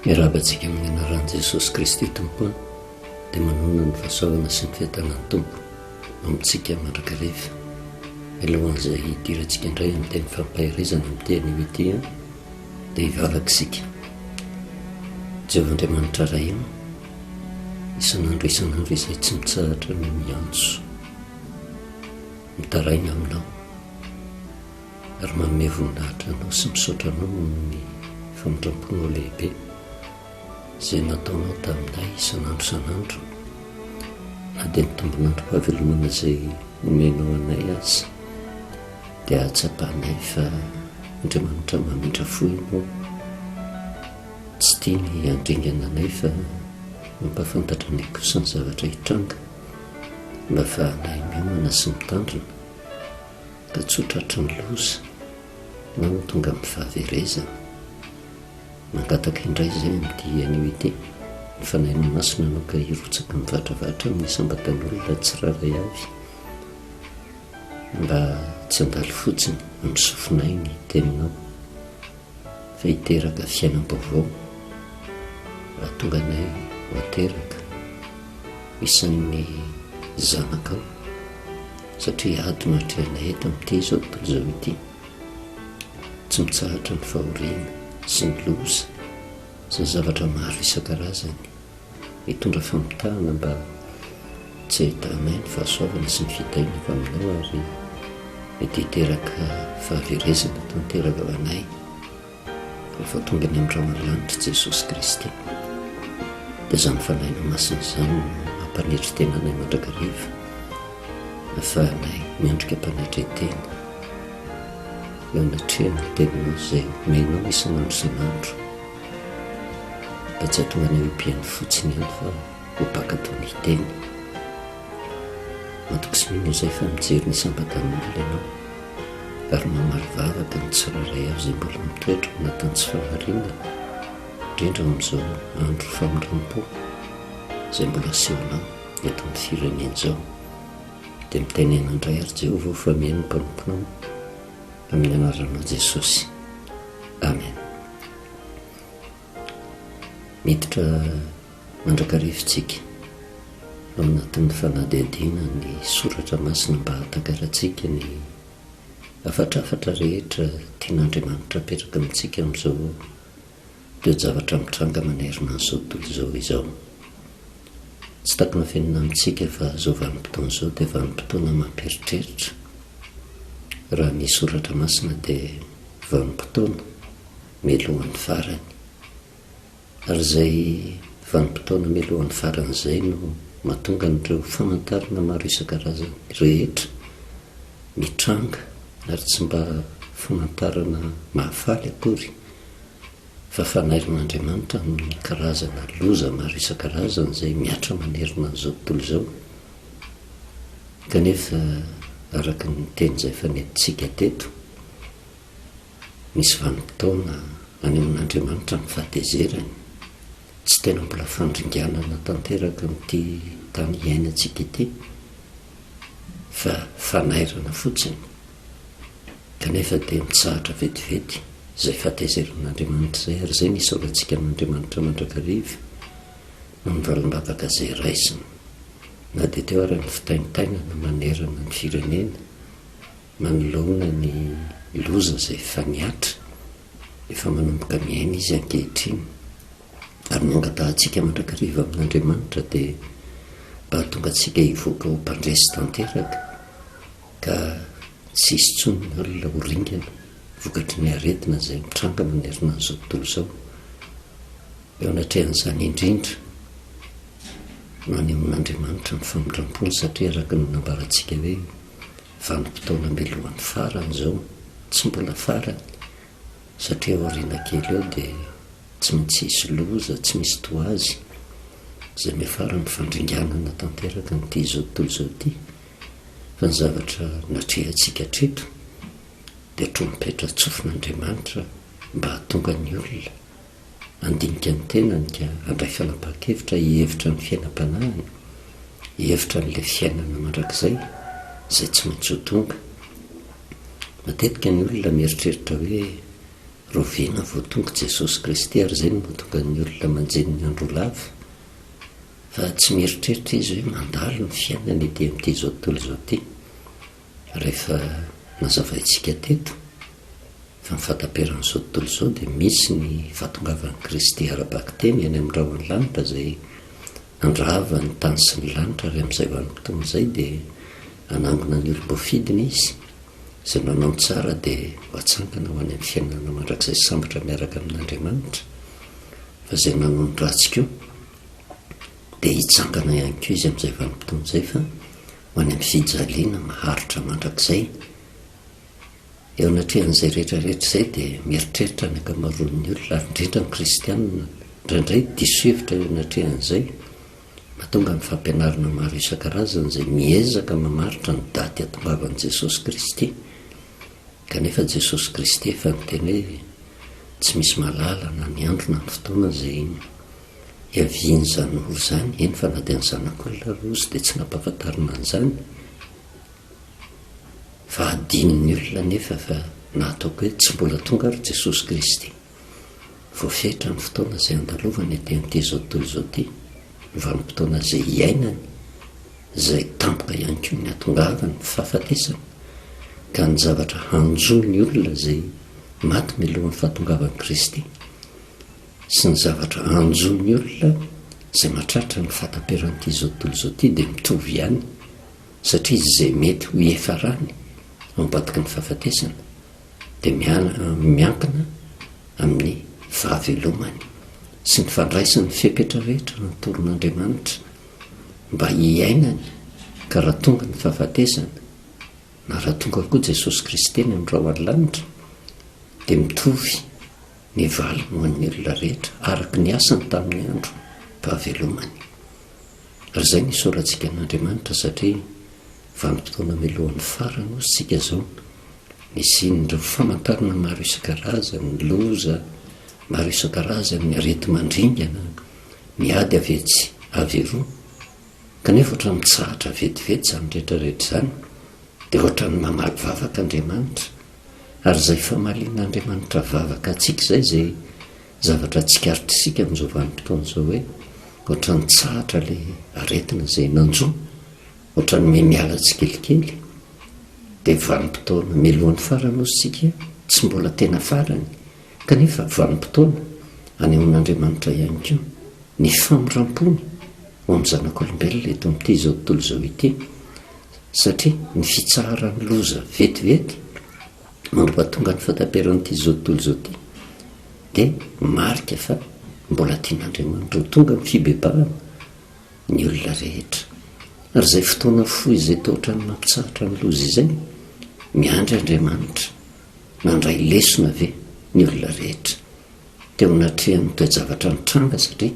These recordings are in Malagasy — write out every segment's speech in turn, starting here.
Miarahaba antsika amin'ny anaran'i Jesosy Kristy Tompo dia manona ny fahasoavana sy ny fiatanan'ny Tompo amintsika mandrakariva. Mialohan'izay hidirantsika indray amin'ny teny fampaherezana amin'ny teny io ity dia hivavaka isika. Jehovah Andriamanitra Rahim, isan'andro isan'andro izay tsy mitsahatra ny miantso. Mitaraigna aminao ary manome voninahitra anao sy misaotra anao nohon'ny famindramponao lehibe izay nataonao taminay isan'andro isan'andro na dia ny tombon'androm-pahavelomana izay omenao anay aza dia ahatsapanay fa Andriamanitra mamindra fo ianao tsy tia ny handringana anay fa mampahafantatra anay kosa ny zavatra hitranga Mba faranay miomana sy mitandrina ka tsy ho tratry ny loza na ho tonga amin'ny fahaverezana. Mangataka indray izay amin'ity anio ity ny Fanahinao Masina anao ka hirotsaky mivatravatra amin'ny isam-batan'olona tsirairay avy mba tsy handalo fotsiny amin'ny sofinay ny Teninao. Izay hiteraka fiainam-baovao raha tonga anay ho ateraka isan'ny zanakao satria ady no atrehanay eto amin'ity izao tontolo izao ity. Tsy mitsahatra ny fahoriana sy ny loza sy ny zavatra maro isan-karazany. Hitondra famitahana mba tsy hahitanay ny fahasoavana sy ny fitahiana avy Aminao ary mety hiteraka fahaverezana tanteraka ho anay rehefa tonga any Amin'ny rahon'ny lanitra i Jesosy Kristy. Dia izany Fanahinao Masina izany no hampanetry tena anay mandrakariva hahafahanay miandrika am-panetren-tena eo anatrehan'ny Teninao izay omenao isan'andro isan'andro. Mba tsy atohana eo am-pihaino fotsiny ihany fa ho mpankatò ny teny. Matoky sy mino izay fa mijery ny sampan-tanimanga ianao ary mamaly vavaka ny tsirairay avy izay mbola mitoetra ao anatin'ny tsy fahariana, indrindra ao amin'izao andro famindram-po izay mbola asehonao eto amin'ny firenena izao. Dia mitenena indray àry Jehovah ho fameno ny mpanomponao. Amin'ny anaran'i Jesosy. Amen. Miditra mandrakarivintsika ao anatin'ny fanadihadiana ny soratra masina mba hahatakarantsika ny hafatrafatra rehetra tian'Andriamanitra apetraka amintsika amin'izao Toe-javatra mitranga manerana an'izao tontolo izao izao. Tsy takona fenina amintsika fa izao vanim-potoana izao dia vanim-potoana mampieritreritra. Raha ny soratra masina dia vanim-potoana mialohan'ny farany. Ary izay vanim-potoana mialohan'ny farany izay no mahatonga an'ireo famantarana maro isan-karazany rehetra mitranga ary tsy mba famantarana mahafaly akory. fa fanairin'Andriamanitra amin'ny karazana loza maro isan-karazany izay mihatra manerana an'izao tontolo izao, kanefa araka ny teny izay efa nentintsika teto, misy vanim-potoana anehoan'Andriamanitra ny fahatezerany, tsy tena mbola fandringanana tanteraka amin'ity tany iainantsika ity, fa fanairana fotsiny. Kanefa dia mitsahatra vetivety izay fahatezerin'Andriamanitra izay ary izay no isaorantsika an'Andriamanitra mandrakariva noho ny valan-davaka izay raisiny, na dia teo ary ny fitaintainana manerana ny firenena manoloana ny loza izay efa nihatra, efa manomboka miaina izy ankehitriny. Ary ny angatahantsika mandrakariva amin'Andriamanitra dia mba hahatonga antsika hivoaka ho mpandresy tanteraka. ka tsy hisy intsony ny olona ho ringana vokatry ny aretina izay mitranga manerana an'izao tontolo izao. Eo anatrehan'izany indrindra no anehoan'Andriamanitra ny famindrampony satria araka ny nambarantsika hoe vanim-potoana mialohan'ny farany izao, tsy mbola farany satria aoriana kely eo dia tsy maintsy hisy loza tsy misy toa azy izay miafara amin'ny fandringanana tanteraka an'ity izao tontolo izao ity. fa ny zavatra natrehantsika hatreto dia trompetra tsofin'Andriamanitra mba hahatonga ny olona handinika ny tenany ka handray fanapahan-kevitra hihevitra ny fiainam-panahiny, hihevitra an'ilay fiainana mandrakizay izay tsy maintsy ho tonga. Matetika ny olona mieritreritra hoe rahoviana vao tonga Jesosy Kristy ary izay no mahatonga ny olona manjeny ny andro ho lava. Fa tsy mieritreritra izy hoe mandalo ny fiainany ety amin'ity izao tontolo izao ity. Rehefa nazavaintsika teto fa ny fahataperan'izao tontolo izao dia misy ny fahatongavan'i Kristy ara-bakiteny any amin'ny rahon'ny lanitra izay handrava ny tany sy ny lanitra ary amin'izay vanim-potoana izay dia hanangona ny olom-boafidiny Izy izay manao ny tsara dia ho atsangana ho any amin'ny fiainana mandrakizay sambatra miaraka amin'Andriamanitra fa izay nanao ny ratsy koa dia hitsangana ihany koa izy amin'izay vanim-potoana izay fa ho any amin'ny fijaliana maharitra mandrakizay. Eo anatrehan'izay rehetra rehetra izay dia mieritreritra ny ankamaroan'ny olona, ary indrindra ny kristianina indraindray diso hevitra eo anatrehan'izay. Mahatonga ny fampianarana maro isan-karazany izay miezaka mamaritra ny daty hahatongavan'i Jesosy Kristy. Kanefa Jesosy Kristy efa niteny hoe tsy misy mahalala na ny andro na ny fotoana izay hiavian'izany ora izany, eny fa na dia ny Zanak'olona ary ozy dia tsy nampahafantarina an'izany. Fa adinon'ny olona anefa fa na ataoko hoe tsy mbola tonga ary Jesosy Kristy. Voafetra ny fotoana izay andalovany aty amin'ity izao tontolo izao ity, ny vanim-potoana izay hiainany, izay tampoka ihany koa ny hahatongavany, ny fahafatesany, ka ny zavatra hanjo ny olona izay maty mialohan'ny fahatongavan'i Kristy, sy ny zavatra hanjo ny olona izay mahatratra ny fahataperan'ity izao tontolo izao ity dia mitovy ihany, satria izay mety ho iafarany ao ambadiky ny fahafatesana. dia miankina amin'ny fahavelomany sy ny fandraisany fepetra rehetra notorin'Andriamanitra mba hiainany ka raha tonga ny fahafatesana na raha tonga koa Jesosy Kristy ny amin'ireo any lanitra dia mitovy ny valiny ho an'ny olona rehetra araka ny asany tamin'ny andro pahavelomany. Ry izay no isaorantsika an'Andriamanitra satria vanim-potoana melohan'ny farany hoy isika izao. Nisian'ireo famantarana maro isan-karazany, ny loza maro isan-karazany, ny areti-mandringana, ny ady avy etsy avy eroa. Kanefa ohatran'ny mitsahatra vetivety izany rehetra rehetra izany, dia ohatran'ny mamaly vavaka Andriamanitra. Ary izay famalian'Andriamanitra vavaka antsika izay izay. Zavatra tsikaritrisika amin'izao vanim-potoana izao hoe ohatran'ny tsahatra ilay aretina izay nanjo, ohatran'ny miha miala tsikelikely. Dia vanim-potoana mialohan'ny farany hozy isika, tsy mbola tena farany, kanefa vanim-potoana anehoan'Andriamanitra ihany koa ny famindram-pony ho amin'ny zanak'olombelona eto amin'ity izao tontolo izao ity, satria ny fitsaharan'ny loza vetivety, Mampahatonga ny fataperan'ity izao tontolo izao ity dia marika fa mbola tian'Andriamanitra ho tonga ny fibebahana ny olona rehetra. Ary izay fotoana fohy izay toa ohatran'ny mampitsahatra ny loza izay, miandry Andriamanitra. Nandray lesona ve ny olona rehetra teo anatrehan'ny toe-javatra nitranga satria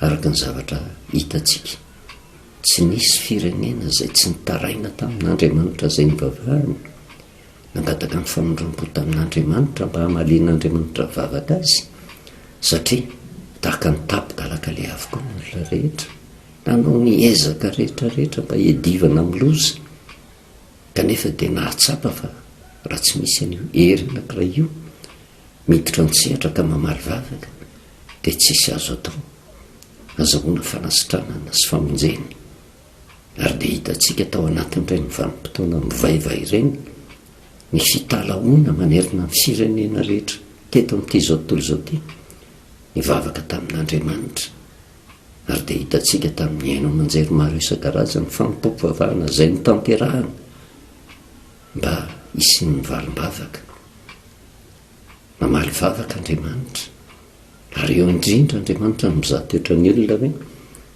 araka ny zavatra hitantsika, tsy nisy firenena izay tsy nitaraina tamin'Andriamanitra izay nivavahany nangataka ny famindrampo tamin'Andriamanitra mba hamalian'Andriamanitra vavaka azy, satria tahaka ny tapi-dalaka leha avokoa ny olona rehetra, nanao ny ezaka rehetra rehetra mba hiadivana amin'ny loza, kanefa dia nahatsapa fa raha tsy misy an'io hery anankiray io miditra an-tsehatra ka mamaly vavaka, dia tsisy azo atao. Azahoana fanasitranana sy famonjena. Ary dia hitantsika tao anatin'ireny vanim-potoana mivaiva ireny ny fitalahoana manerana ny firenena rehetra teto amin'ity izao tontolo izao ity nivavaka tamin'Andriamanitra. Ary dia hitantsika tamin'ny haino aman-jery maro isan-karazany ny fanompoam-pivavahana izay notanterahana mba hisian'ny valim-bavaka. Namaly vavaka Andriamanitra. Ary eo indrindra Andriamanitra no mizaha toetra ny olona ve?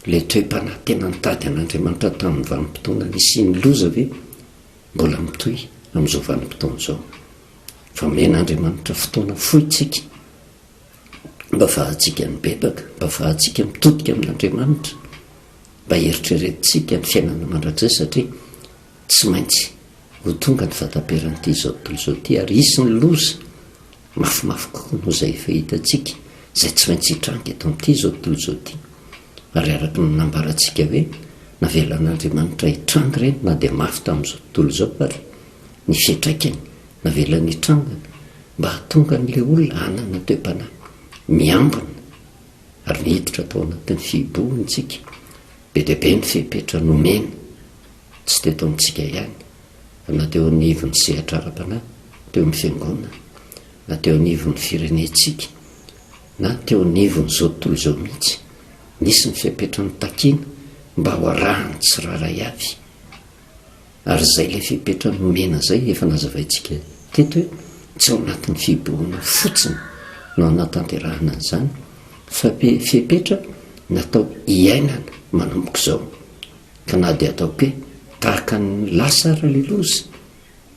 Ilay toe-panahy tena nitady an'Andriamanitra tamin'ny vanim-potoana nisian'ny loza ve mbola mitohy amin'izao vanim-potoana izao? Efa omen'Andriamanitra fotoana fohy isika mba hahafahantsika mibebaka, mba hahafahantsika mitodika amin'Andriamanitra, mba heritreretintsika ny fiainana mandrakizay satria Tsy maintsy ho tonga ny fataperan'ity izao tontolo izao ity ary hisy ny loza mafimafy kokoa noho izay efa hitantsika, izay tsy maintsy hitranga eto amin'ity izao tontolo izao ity. Ary araka ny nambarantsika hoe navelan'Andriamanitra hitranga ireny na dia mafy tamin'izao tontolo izao ary ny fiantraikany navelany hitranga mba hahatonga an'ilay olona hanana toe-panahy miambina ary miditra tao anatin'ny fihibohontsika. Be dia be ny fepetra nomena. tsy teto amintsika ihany, fa na teo anivon'ny sehatra ara-panahy, teo amin'ny fiangonana, na teo anivon'ny firenentsika, na teo anivon'izao tontolo izao mihitsy, nisy ny fepetra notakiana mba ho arahan'ny tsirairay avy. Ary izay ilay fepetra nomena izay, efa nazavaintsika teto hoe tsy ao anatin'ny fibohana fotsiny no hanatanterahana an'izany, fa fepetra natao hiainana manomboka izao. Ka na dia atao pe tahaka an'i Lasa ary ilay loza,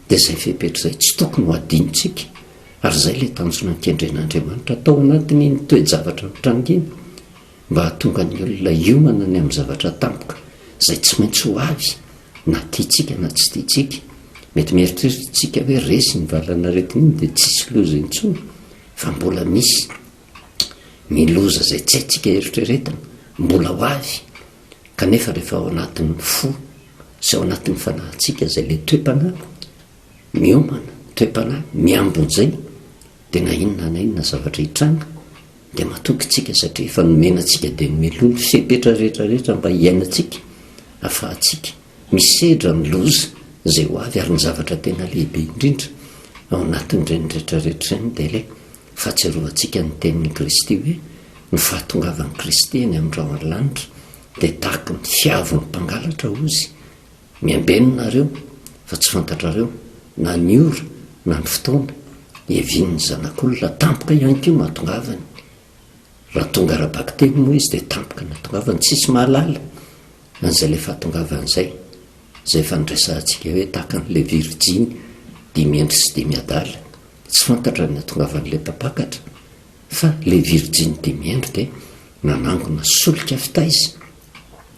dia izay fepetra izay tsy tokony ho adinontsika, ary izay ilay tanjona nikendren'Andriamanitra tao anatin'iny toe-javatra mitranga iny, mba hahatonga ny olona hiomana ny amin'ny zavatra tampoka izay tsy maintsy ho avy, na tiantsika na tsy tiantsika. Mety mieritreritra isika hoe resy iny valan'aretina iny dia tsisy loza intsony, fa mbola misy ny loza izay tsy haintsika eritreretina, mbola ho avy. Kanefa rehefa ao anatin'ny fo sy ao anatin'ny fanahintsika izay ilay toe-panahy miomana, toe-panahy miambojay, dia na inona na inona zavatra hitranga dia matoky isika satria efa nomena antsika dia nomelohina ny fepetra rehetra rehetra mba hiainantsika, afahantsika misedra amin'ny loza izay ho avy ary ny zavatra tena lehibe indrindra ao anatin'ireny rehetra rehetra ireny dia ilay Fahatsiarovan-tsika ny tenin'i Kristy hoe, Ny fahatongavan'i Kristy eny amin'ny rahon'ny lanitra dia tahaka ny fiavon'ny mpangalatra hozy, Miambenona nareo, fa tsy fantatrareo na ny ora na ny fotoana hiavian'ny Zanak'olona. Tampoka ihany koa no hatongavany. Raha tonga ara-bakiteny moa Izy dia tampoka ny hatongavany. Tsisy mahalala an'izay ilay fahatongavany izay. izay efa niresahantsika hoe tahaka an'ilay virijiny dimy andro sy dimy adala, tsy fantatra ny nahatongavan'ilay mpampakatra, fa ilay virijiny dimy andro dia nanangona solika fitaiza,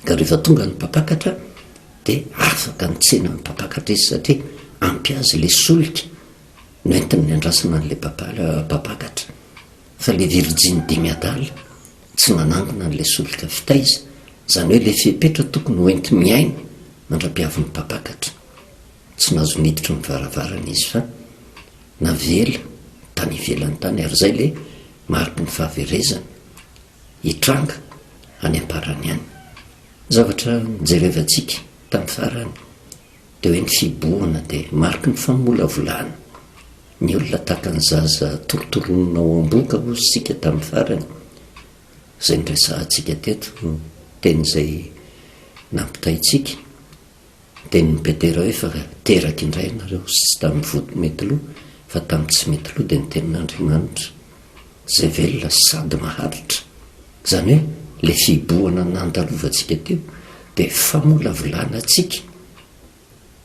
ka rehefa tonga ny mpampakatra dia afaka nitsena ny mpampakatra izy satria ampy azy ilay solika nentin'ny nandrasana an'ilay mpampakatra. Fa ilay virjiny dimy adala tsy nanangona an'ilay solika fitaiza, izany hoe ilay fepetra tokony ho enti-miaina mandra-pihavin'ny mpampakatra. Tsy nahazo niditra ny varavarana izy fa navela tany ivelany tany ary izay ilay mariky ny fahaverezana hitranga any am-parany any. Zavatra nijerevantsika tamin'ny farany. Dia hoe ny fibohana dia mariky ny famolavolana. Ny olona tahaka ny zaza torotoroninao ao am-bohoka hozy isika tamin'ny farany, izay niresahantsika teto, ny teny izay nampitaintsika, ny tenin'i Petera hoe fa teraky indray ianareo, sy tsy tamin'ny vody mety lo, fa tamin'ny tsy mety lo, dia ny tenin'Andriamanitra. izay velona sady maharitra, izany hoe ilay fihibohana nandalovantsika teo dia famolavolana antsika,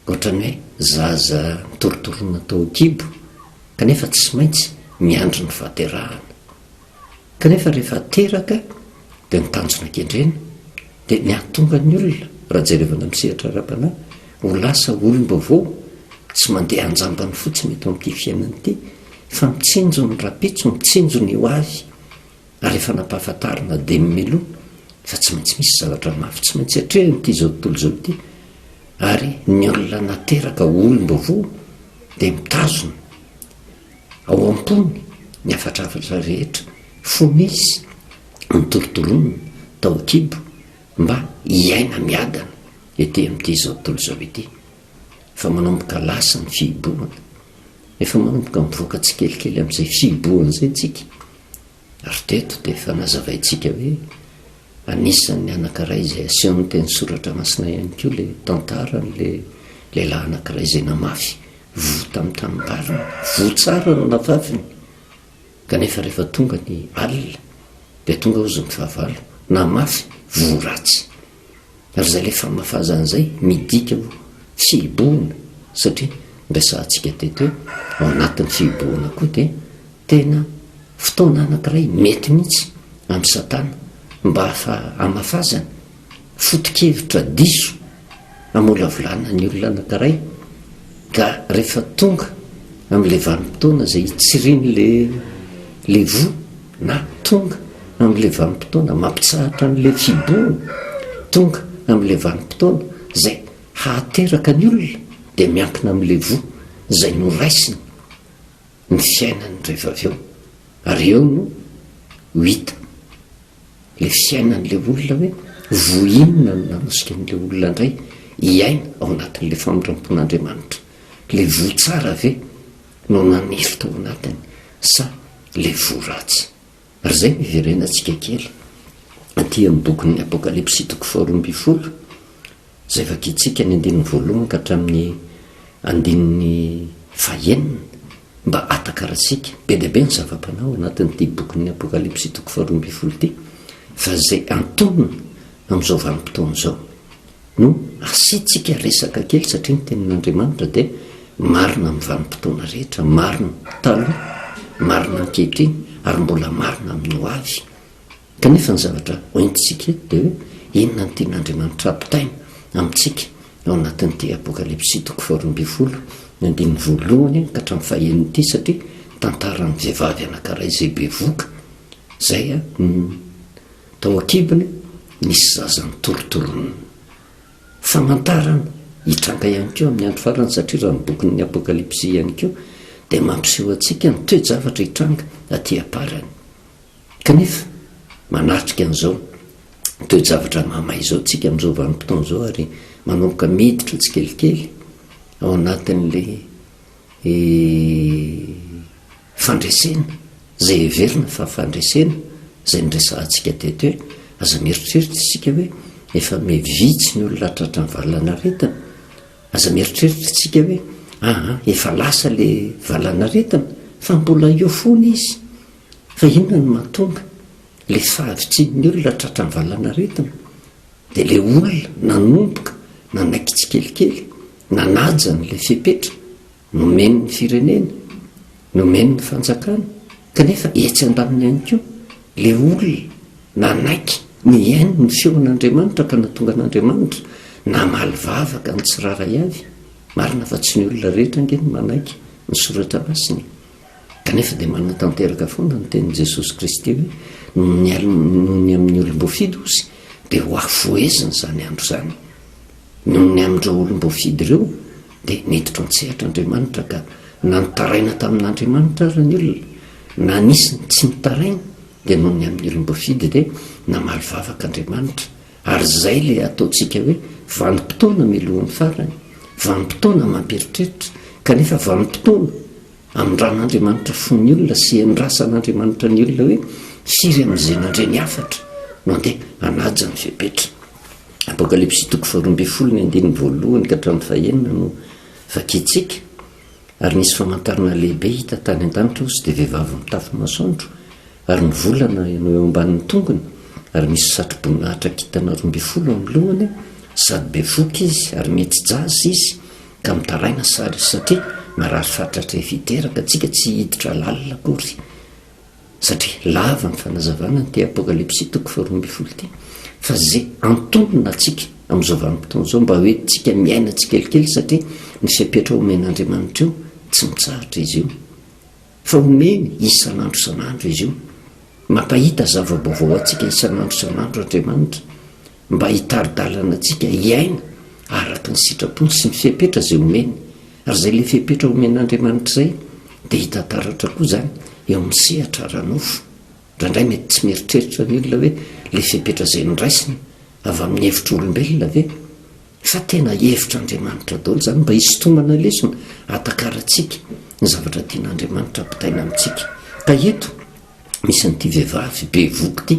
ohatran'ny hoe zaza nitorotorona tao an-kibo kanefa tsy maintsy miandry ny fahaterahana, kanefa rehefa teraka, dia ny tanjona kendrena dia ny hahatonga ny olona raha jerevana amin'ny sehatra ara-panahy ho lasa olom-baovao tsy mandeha anjambany fotsiny eto amin'ity fiainana ity fa mitsinjo ny rapitso mitsinjo ny ho avy ary efa nampahafantarina dia ny meloha fa tsy maintsy misy zavatra mafy tsy maintsy atrehina ity izao tontolo izao ity ary ny olona nateraka olom-baovao dia mitazona Ao am-pony ny hafatrafatra rehetra fony izy notorontoronina tao an-kibo mba hiaina miadana ety amin'ity izao tontolo izao ity. Efa manomboka lasa ny fihibohana. Efa manomboka mivoaka tsikelikely amin'izay fihibohana izay isika. Ary teto dia efa nazavaintsika hoe anisan'ny anankiray izay asehon'ny teny soratra masina ihany koa ilay tantaran'ilay lehilahy anankiray izay namafy voa tamin'ny tanimbariny. Voa tsara no nafafiny, kanefa rehefa tonga ny alina dia tonga hozy ny fahavalo, namafy voa ratsy. Ary zay le famafazana zay midika ho fihibohana satria niresahantsika teto hoe ao anatin'ny fihibohana koa dia tena fotoana anankiray mety mihitsy amin'i Satana mba hamafazana foto-kevitra diso hamolavolana ny olona anankiray ka rehefa tonga amin'ilay vanim-potoana izay hitsirian'ilay voa Na tonga amin'ilay vanim-potoana mampitsahatra an'ilay fihibohana, tonga amin'ilay vanim-potoana izay hahateraka ny olona, dia miankina amin'ilay voa izay noraisina ny fiainany rehefa avy eo. Ary eo no ho hita ilay fiainan'ilay olona hoe voa inona no nanosika an'ilay olona indray hiaina ao anatin'ilay famindram-pon'Andriamanitra. Ilay voa tsara ve no nanefy tao anatiny sa le fo ratsy? Ary zay no hiverenatsika kely aty amin'ny bokin'ny Apokalypsy toko faharoa ambin'ny folo zay vakintsika ny andininy voalohany ka hatramin'ny andininy fahenina mba atakaratsika be dia be ny zava-panahy ao anatin'ity bokin'ny Apokalypsy toko faharoa ambin'ny folo ity fa zay antonony amin'izao vanim-potoana izao. No asiantsika resaka kely satria ny tenin'Andriamanitra dia marina amin'ny vanim-potoana rehetra, marina taloha, marina ankehitriny ary mbola marina amin'ny ho avy. Kanefa ny zavatra hoentintsika eto dia hoe inona no tian'Andriamanitra hampitaina amintsika ao anatin'ity Apokalypsy toko faharoa ambin'ny folo ny andininy voalohany ka hatramin'ny fahenina ity satria tantaran'ny vehivavy anankiray izay bevoka izay no Tao an-kibony nisy zaza nitorotoronina. Famantarana hitranga ihany koa amin'ny andro farany satria raha ny bokin'ny Apokalypsy ihany koa dia mampiseho antsika ny toe-javatra hitranga aty am-parany. Kanefa, manatrika an'izao toe-javatra mahamay izao isika amin'izao vanim-potoana izao ary manomboka miditra tsikelikely ao anatin'ilay Fandresena, izay heverina fa fandresena, izay niresahantsika teto hoe, aza mieritreritra isika hoe efa me vitsy ny olona tratran'ny valanaretina, aza mieritreritra isika hoe aa efa lasa ilay valanaretina, fa mbola eo fona izy. Fa inona no mahatonga ilay fahavitrian'ny olona tratran'ny valanaretina? Dia ilay olona nanomboka nanaiky tsikelikely, nanaja an'ilay fepetra. Nomeny ny firenena, nomeny ny fanjakana, kanefa etsy andaniny ihany koa ilay olona nanaiky ny hihaino ny feon' Andriamanitra ka nahatonga an' Andriamanitra namaly vavaka ny tsirairay avy, marina fa tsy ny olona rehetra ange no manaiky ny soratra masina e! kanefa dia manatanteraka foana ny tenin'i Jesosy Kristy hoe noho ny alm noho ny amin'ny olom-boafidy osy dia ho afoheziny izany andro izany. Noho ny amin'ireo olom-boafidy ireo, dia niditra an-tsehatra Andriamanitra ka na nitaraina tamin'Andriamanitra aza ny olona, na nisy ny tsy nitaraina, dia noho ny amin'ny olom-boafidy dia namaly vavaka Andriamanitra. Ary izay ilay ataontsika hoe vanim-potoana mialohan'ny farany, vanim-potoana mampieritreritra, kanefa vanim-potoana. Amindran'Andriamanitra fo ny olona sy endrasan'Andriamanitra ny olona hoe hiry amin'izay nandre ny hafatra no andeha hanaja ny fepetra. Apokalypsy toko faharoa ambin'ny folo ny andininy voalohany ka hatramin'ny fahenina no vakintsika. Ary nisy famantarana lehibe hita tany an-danitra, osy dia vehivavy mitafy masoandro Ary ny volana no eo ambanin'ny tongony, ary misy satro-boninahitra kintana roa ambin'ny folo amin'ny lohany, sady bevoka izy, ary mihetsi-jaza izy, ka mitaraina sary izy, satria marary fatratra efa hiteraka antsika, tsy hiditra lalina akory. Satria lava ny fanazavana an'ity Apokalypsy toko faharoa ambin'ny folo ity, fa izay antonona antsika amin'izao vanim-potoana izao, mba hoentintsika miaina tsikelikely, satria ny fepetra omen'Andriamanitra io, tsy mitsahatra izy io. Fa omeny isan'andro isan'andro izy io. Mampahita zava-baovao antsika isan'andro isan'andro Andriamanitra mba hitari-dalana antsika hiaina araka ny sitrapony sy ny fepetra izay omeny. Ary izay ilay fepetra omen'Andriamanitra izay dia hita taratra koa izany eo amin'ny sehatra ara-nofo. Indraindray mety tsy mieritreritra ny olona hoe ilay fepetra izay noraisiny avy amin'ny hevitr'olombelona ve? Sa tena hevitra Andriamanitra daholo izany mba hisintomana lesona hatakarantsika ny zavatra tian Andriamanitra ampitaina amintsika? Ka eto misy an'ity vehivavy be voky ity,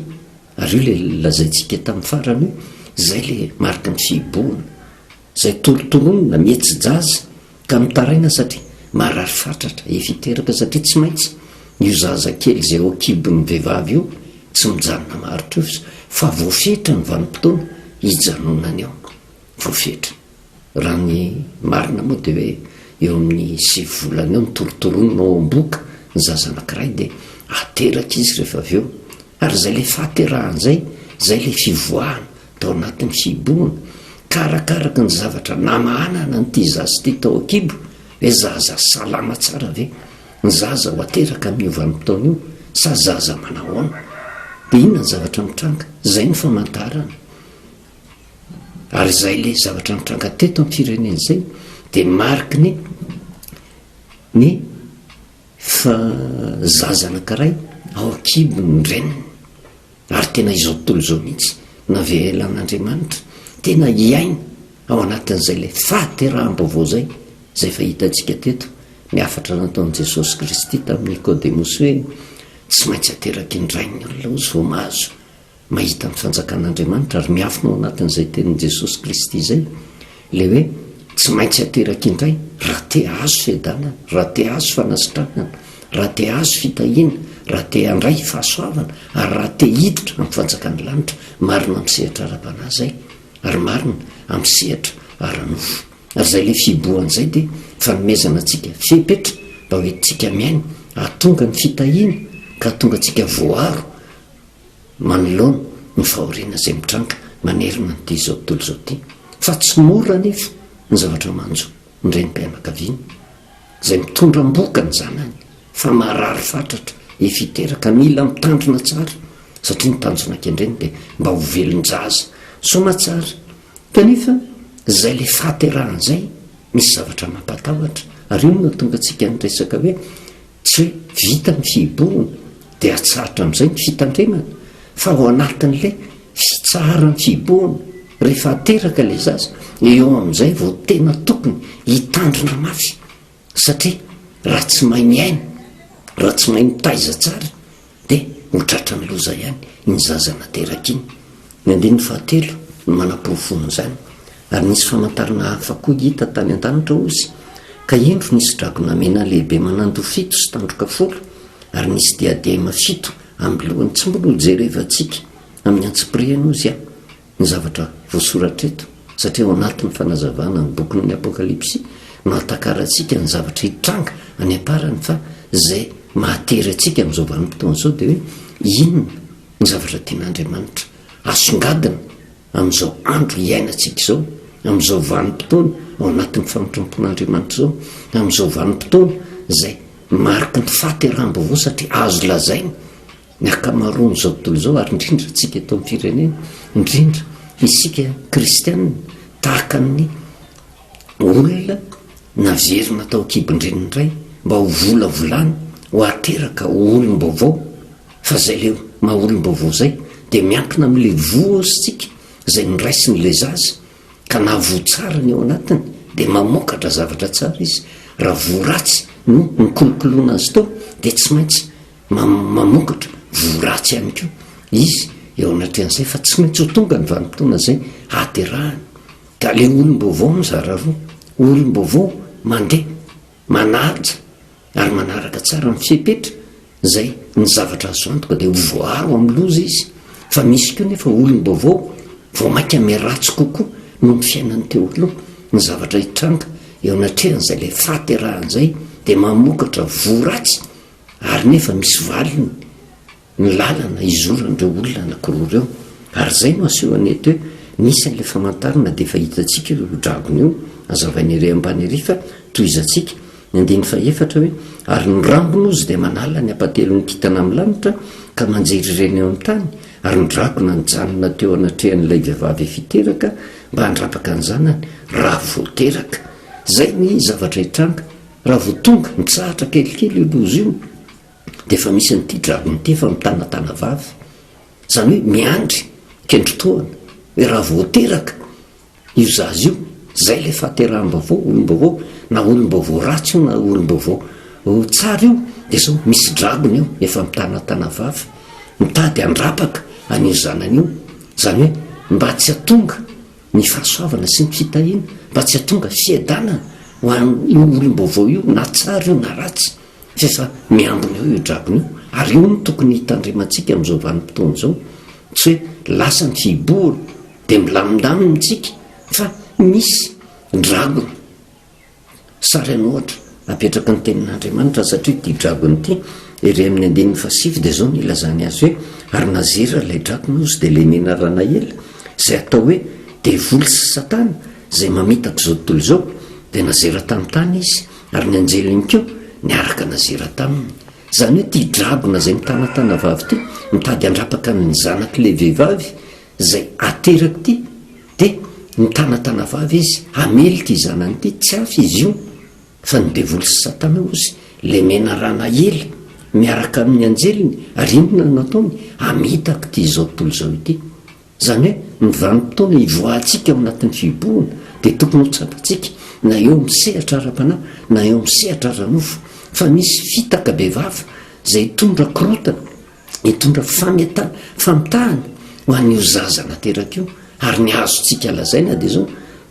ary io ilay lazaintsika tamin'ny farany hoe izay ilay mariky ny fihibohana, izay torotoronina, mihetsi-jaza, Ka mitaraina satria marary fatratra, efa hiteraka satria tsy maintsy io zaza kely izay ao an-kibon'ny vehivavy io tsy mijanona maharitra io fa voafetra ny vanim-potoana hijanonany ao. Voafetra. Raha ny marina moa dia hoe eo amin'ny sivy volana eo no torotoronina ao am-bohoka ny zaza anankiray dia ateraka izy rehefa avy eo Ary izay ilay fahaterahana izay, izay ilay fivoahana tao anatin'ny fihibohana, ka arakaraka ny zavatra namahana an'ity zaza ity tao an-kibo, ilay zaza salama tsara ve? Ny zaza ho ateraka amin'io vanim-potoana io sa zaza manahoana? Dia inona ny zavatra mitranga? Izay no famantarana. Ary izay ilay zavatra nitranga teto amin'ny firenena izay dia mariky ny ny Fa zaza anankiray ao an-kibon' ny reniny, ary tena izao tontolo izao mihitsy navelan' Andriamanitra tena hiaina ao anatin' izay ilay fahateraham-baovao izay, izay efa hitantsika teto ny hafatra nataon'i Jesosy Kristy tamin'i Nikôdemosy hoe tsy maintsy ateraky ny rainy ny olona ozy vao mahazo Mahita ny fanjakan'Andriamanitra ary miafina ao anatin'izay tenin'i Jesosy Kristy izay, ilay hoe tsy maintsy ateraka indray raha te hahazo fiadanana, raha te hahazo fanasitranana, raha te hahazo fitahiana, raha te handray fahasoavana ary raha te hiditra amin'ny fanjakan'ny lanitra. Marina amin'ny sehatra ara-panahy izay ary marina amin'ny sehatra ara-nofo. Ary izay ilay fihibohana izay dia fanomezana antsika fepetra mba hoentintsika miaina hahatonga ny fitahiana ka hahatonga antsika voaro manoloana ny fahoriana izay mitranga manerana an'ity izao tontolo izao ity, fa tsy mora anefa ny zavatra manjo ny renim-pianakaviana izay mitondra am-bohoka ny zanany fa marary fatratra efa hiteraka, mila mitandrina tsara satria ny tanjona kendreny dia mba ho velon-jaza soamatsara kanefa izay ilay fahaterahana izay misy zavatra mampatahotra, ary io no nahatonga antsika niresaka hoe Tsy hoe vita ny fihiborana dia atsarotra amin'izay ny fitandremana fa ao anatin'ilay fitsaharan'ny fihiborana rehefa ateraka ilay zaza, eo amin'izay vao tena tokony hitandrina mafy satria raha tsy mahay miaina, raha tsy mahay mitaiza tsara Dia ho tratran'ny loza ihany iny zaza nateraka iny. Ny andininy fahatelo no manaporofoana izany. Ary nisy famantarana hafa koa hita tany an-danitra, hozy, ka indro nisy dragona mena lehibe manando fito sy tandroka folo, ary nisy diadema fito amin'ny lohany. Tsy mbola hojerevantsika amin'ny antsipirihany, hozy, an. ny zavatra voasoratra eto, satria ao anatin'ny fanazavana ny bokin'ny Apokalypsy no ahatakarantsika ny zavatra hitranga any am-parany, fa izay mahatery antsika amin'izao vanim-potoana izao dia hoe inona ny zavatra tian'Andriamanitra asongadina amin'izao andro iainantsika izao, amin'izao vanim-potoana ao anatin'ny famitram-pon'Andriamanitra izao, amin'izao vanim-potoana izay mariky ny fahateraham-baovao satria azo lazaina Ny ankamaroan'izao tontolo izao, ary indrindra antsika eto amin'ny firenena, indrindra isika kristiana, tahaka ny olona naverina tao an-kibon-dreniny indray mba ho volavolana, ho ateraka ho olom-baovao, fa izay ilay maha olom-baovao izay dia miankina amin'ilay vohozontsika izay noraisin'ilay zaza ka na voa tsara ny ao anatiny dia mamokatra zavatra tsara izy, raha voa ratsy no nikolokoloana azy tao dia tsy maintsy mamokatra voa ratsy ihany koa izy eo anatrehan'izay fa tsy maintsy ho tonga ny vanimpotoana izay haterahany ka le olom-baovao mizara roa olom-baovao mandeha manaja ary manaraka tsara ny fepetra izay ny zavatra azo antoka dia ho voaro amin'ny loza izy fa misy koa nefa olom-baovao vao mainka miratsy kokoa noho ny fiainan'ny teo aloha ny zavatra hitranga eo anatrehan'izay le fahaterahan'izay dia mamokatra voa ratsy ary nefa misy valiny ny lalana hizoran'ireo olona anakiroa ireo, ary izay no asehony eto hoe nisy an'ilay famantarana dia efa hitantsika io dragona io, azavainy ery ambany ery fa tohizantsika ny andininy fahefatra hoe ary ny rambony ozy dia manala ny hapatelon'ny kintana amin'ny lanitra ka manjery ireny eo amin'ny tany, ary ny dragona nijanona teo anatrehan'ilay vehivavy efa hiteraka mba handrapaka ny zanany raha vao teraka. Izay ny zavatra hitranga. Raha vao tonga, mitsahatra kelikely io loza io, dia efa misy an'ity dragon ity efa mitana tana vavy. Izany hoe miandry kendry tohana, hoe raha vao teraka io zaza io, izay ilay fahateraham-baovao, olom-baovao, na olom-baovao ratsy io na olom-baovao tsara io, dia izao, misy dragon io efa mitana tana vavy, mitady handrapaka an'io zanany io, izany hoe mba tsy hatonga ny fahasoavana sy ny fitahiana mba tsy hahatonga fiadanana ho an'io olom-baovao io na tsara io na ratsy fa efa miambina eo io dragona io ary io no tokony hitandremantsika amin'izao vanim-potoana izao tsy hoe lasa ny fihibohana dia milamindamina isika fa misy dragona Sary an'ohatra apetraky ny Tenin'Andriamanitra, satria ity dragona ity, ery amin'ny andininy fahasivy, dia izao no ilazany azy hoe, Ary nazera ilay dragona, hozy, dia ilay Nenaranaela, izay atao hoe Devoly sy Satana, izay mamitaka izao tontolo izao, dia nazera tamin'ny tany izy, ary ny anjeliny koa niaraka nazera taminy. Izany hoe ity dragona izay mitanatana vavy ity, mitady handrapaka ny zanak'ilay vehivavy, Izay aterako ity dia nitana tanavavy izy hamely ity zanany ity, tsy hafa izy io fa ny devoly sy satana ozy lemena rana ela miaraka amin'ny anjeliny ary inona no nataony? hamitaka ity izao tontolo izao ity izany hoe ny vanim-potoana hivoahantsika ao anatin'ny fihibohana dia tokony ho tsapantsika na eo amin'ny sehatra ara-panahy na eo amin'ny sehatra ara-nofo fa misy fitaka bevava izay hitondra korotana hitondra fameta famitahana ho an'io zaza nateraka io ary ny azontsika lazaina dia zao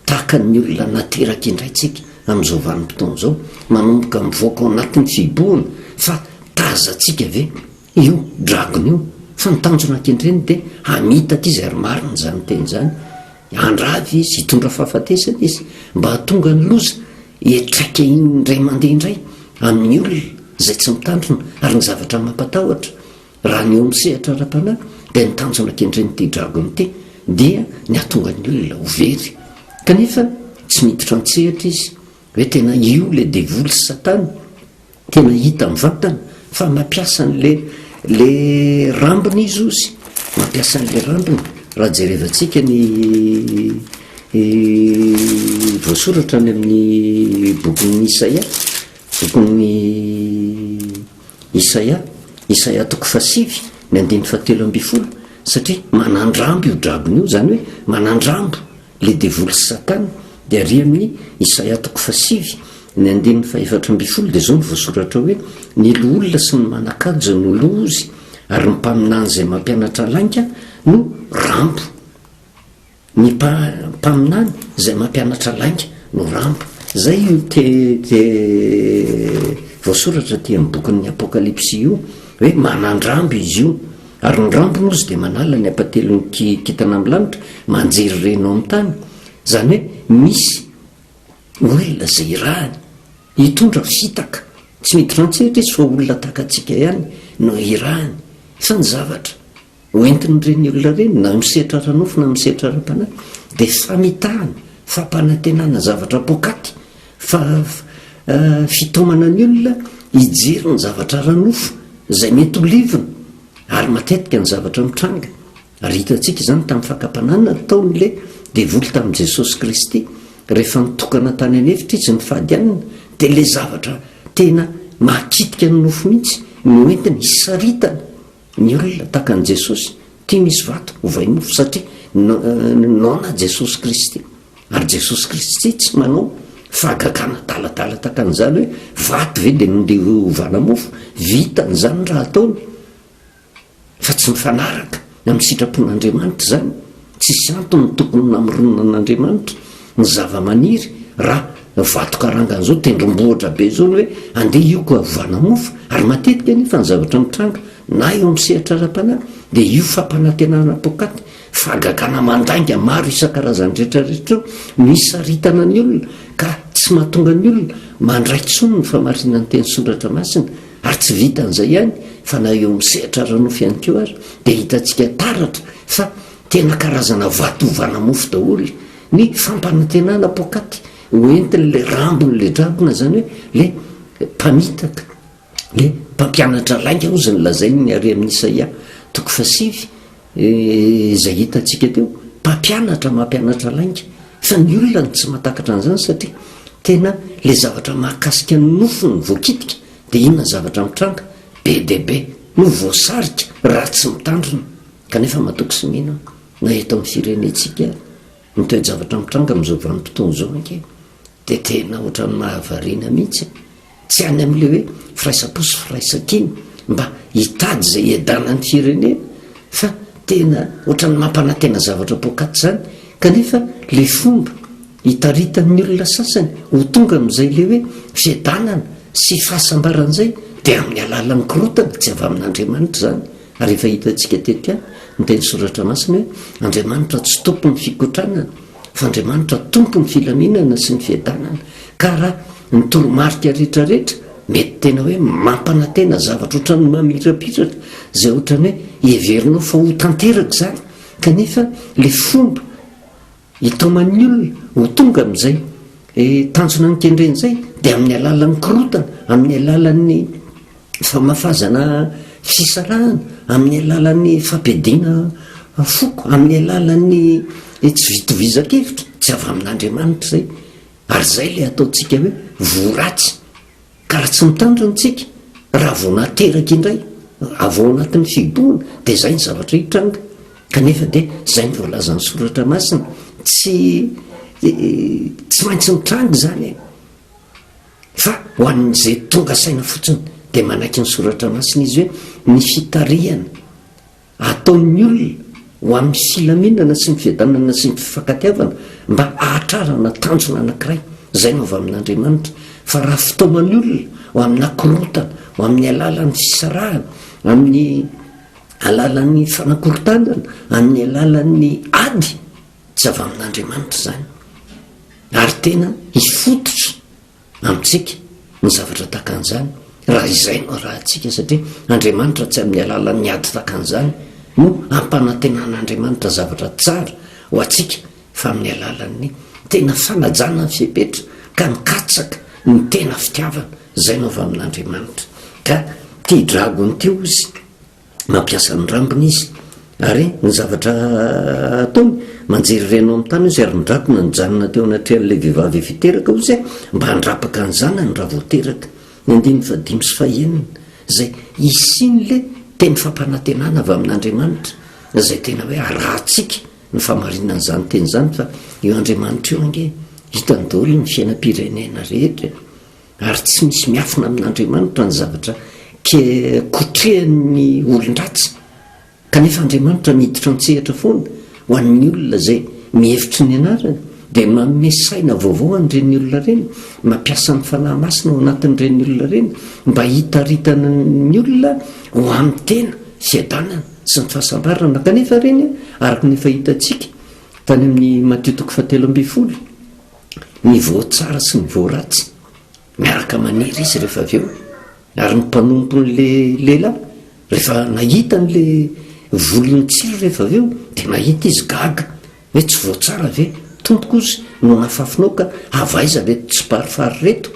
tahaka ny olona nateraka indray tsika amin'izao vanimpotoana zao manomboka mivoaka ao anatin'ny fibohana fa tazatsika ve io dragona io fa ny tanjona ankendreny dia hamita aty zay ry marina izany teny izany Handrava izy, hitondra fahafatesana izy, mba hahatonga ny loza hiatraika indray mandeha indray amin'ny olona izay tsy mitandrina ary ny zavatra mampatahotra raha ny eo amin'ny sehatra ara-panahy dia ny tanjona kendren'ity dragon ity dia ny hahatonga ny olona ho very kanefa tsy miditra an-tsehatra izy hoe tena io ilay devoly sy satana Tena hita amin'ny vantany fa mampiasa an'le le rambony izy ozy, mampiasa an'le rambony raha jerevantsika ny voasoratra any amin'ny bokin'ny Isaia, bokin'ny Isaia, Isaia toko fahasivy ny andininy fahatelo ambin'ny folo, satria manandrambo io drabony io, izany hoe manandrambo Le devoly sy satana de ary amin i isaia toko faha sivy ny andininy faha efatra ambin'ny folo de zao no voasoratra hoe ny loholona sy ny manakaja no lozy ary ny mpaminany zay mampianatra lainga no rambo ny mpaminany zay mampianatra lainga no rambo zay io te te voasoratra aty am bokin'ny apokalipsy io hoe manandrambo izy io Ary ny rambony ozy dia manala ny apatelon'ny kintana amin'ny lanitra, manjery reny ao amin'ny tany. Izany hoe misy olona izay irahany hitondra fitaka. Tsy miditra an-tsehatra izy fa olona tahaka antsika ihany no irahany. Fa ny zavatra hoentin'ireny olona ireny na amin'ny sehatra ara-nofo na amin'ny sehatra ara-panahy dia famitahana, fampanantenana zavatra poakaty Fa fitaomana ny olona hijery ny zavatra ara-nofo izay mety ho levona, ary matetika ny zavatra mitranga, ary hitantsika izany tamin'ny fakam-pananana nataon'ilay devoly tamin'i Jesosy Kristy, rehefa nitokana tany an'efitra izy nifady hanina, dia ilay zavatra tena mahakitika ny nofo mihitsy no entiny hisaritana. Ny olona tahaka an'i Jesosy tia misy vato hovay mofo satria noana Jesosy Kristy. Ary Jesosy Kristy tsy manao fahagagana adaladala tahaka an'izany hoe vato ve dia nondeha hovana mofo. Vitany izany raha ataony fa tsy mifanaraka amin'ny sitrapon'Andriamanitra izany. Tsisy antony tokony namoronana an'Andriamanitra ny zava-maniry raha vato karangana zao tendrombohitra be zao ny hoe andeha hioka ovana mofo ary matetika anefa ny zavatra mitranga na eo amin'ny sehatra ara-panahy dia io fampanantenana poakaty fahagagana mandainga maro isan-karazany rehetrarehetra io no isaritana ny olona ka tsy mahatonga ny olona mandray tsony ny famarinan'ny teny soratra masina Ary tsy vitan'izay ihany fa na eo amin'ny sehatra ara-nofo ihany koa ary dia hitantsika taratra fa tena karazana vato ovana mofo daholo ny fampanantenana poakaty ho entin'ilay rambon'ilay dragona, izany hoe ilay mpamitaka, ilay mpampianatra lainga hozy ny lazain'ny harian'i Isaia toko fahasivy. Izay hitantsika teo, mpampianatra mampianatra lainga, fa ny olona no tsy mahatakatra an'izany satria tena ilay zavatra mahakasika ny nofo no voakitika dia inona zavatra mitranga? be dia be no voasarika raha tsy mitandrina kanefa matoky sy mino na eto amin'ny firenentsika ny toe-javatra mitranga amin'izao vanim-potoana izao ange Dia tena ohatran'ny mahavariana mihitsy e! Tsy any amin'ilay hoe firaisam-po sy firaisan-kina mba hitady izay hiadanan'ny firenena fa tena ohatran'ny mampanantena zavatra poakaty izany kanefa ilay fomba hitaritan'ny olona sasany ho tonga amin'izay ilay hoe fiadanana sy fahasambarana izay dia amin'ny alalan'ny korotana tsy avy amin'Andriamanitra izany ary efa hitantsika teto ihany ny teny soratra masina hoe Andriamanitra tsy tompon'ny fikotranana f'Andriamanitra tompon'ny filaminana sy ny fiadanana ka raha ny toromarika retraretra mety tena hoe mampanantena zavatra ohatran'ny mamirapiratra izay ohatran'ny hoe heverinao fa ho tanteraka izany kanefa le fomba hitaoman'ny olona ho tonga amin'izay eh, tanjona nikendren'izay dia amin'ny alalan'ny korotana amin'ny alalan'ny famafazana fisarahana amin'ny alalan'ny fampiadiana foko, amin'ny alalan'ny tsy fitovizankevitra, tsy avy amin'Andriamanitra izay, ary izay ilay ataontsika hoe voa ratsy, ka raha tsy mitandrina isika, raha vao nateraka indray avy ao anatin'ny fihibohana, dia izay ny zavatra hitranga, kanefa dia izay ny voalazan'ny Soratra Masina, tsy tsy maintsy mitranga izany e! Fa ho an'izay tonga saina fotsiny dia manaiky ny Soratra Masina izy hoe ny fitarihana ataon'ny olona ho amin'ny filaminana sy ny fiadanana sy ny fifankatiavana mba hahatrarana tanjona anankiray izay no avy amin'Andriamanitra fa raha fitaoman'ny olona ho amina korotana ho amin'ny alalan'ny fisarahana amin'ny alalan'ny fanakorontanana amin'ny alalan'ny ady Tsy avy amin'Andriamanitra izany, ary tena hifototra amintsika ny zavatra tahaka an'izany raha izay no arahintsika, satria Andriamanitra tsy amin'ny alalan'ny ady tahaka an'izany no hampanantenan'Andriamanitra zavatra tsara ho antsika fa amin'ny alalan'ny tena fanajana ny fepetra ka mikatsaka ny tena fitiavana, izay no avy amin'Andriamanitra ka tia dragony ity ozy. mampiasa ny rambony izy. Ary ny zavatra ataony, manjery reno amin'ny tany izy ary midrakona nijanona teo anatrehan'ilay vehivavy efa hiteraka izy e, mba handrapaka ny zanany raha vao teraka. Ny andininy fahadimy sy fahenina, izay hisian'ilay teny fampanantenana avy amin'Andriamanitra, izay tena hoe arahantsika ny famarinan'izany teny izany fa io Andriamanitra io ange hitany daholo ny fiainam-pirenena rehetra e. Ary tsy misy miafina amin'Andriamanitra ny zavatra kotrehan'ny olon-dratsy. Kanefa Andriamanitra miditra an-tsehatra foana ho an'ny olona izay mihevitry ny anarany, dia manome saina vaovao an'ireny olona ireny, mampiasa ny Fanahy Masina ao anatin'ireny olona ireny mba hitaritana ny olona ho amin'ny tena fiadanana sy ny fahasambarana. Kanefa ireny, araka ny efa hitantsika tany amin'ny Matio toko fahatelo ambin'ny folo, ny voatsara sy ny voaratsy miaraka maniry izy rehefa avy eo ary ny mpanompon'la lela rehefa nahita n'la volony tsiry rehefa avy eo dia nahita izy gaga hoe tsy voatsara ve tompo kozy no nafafinao ka havaiza reto tsy parifary reto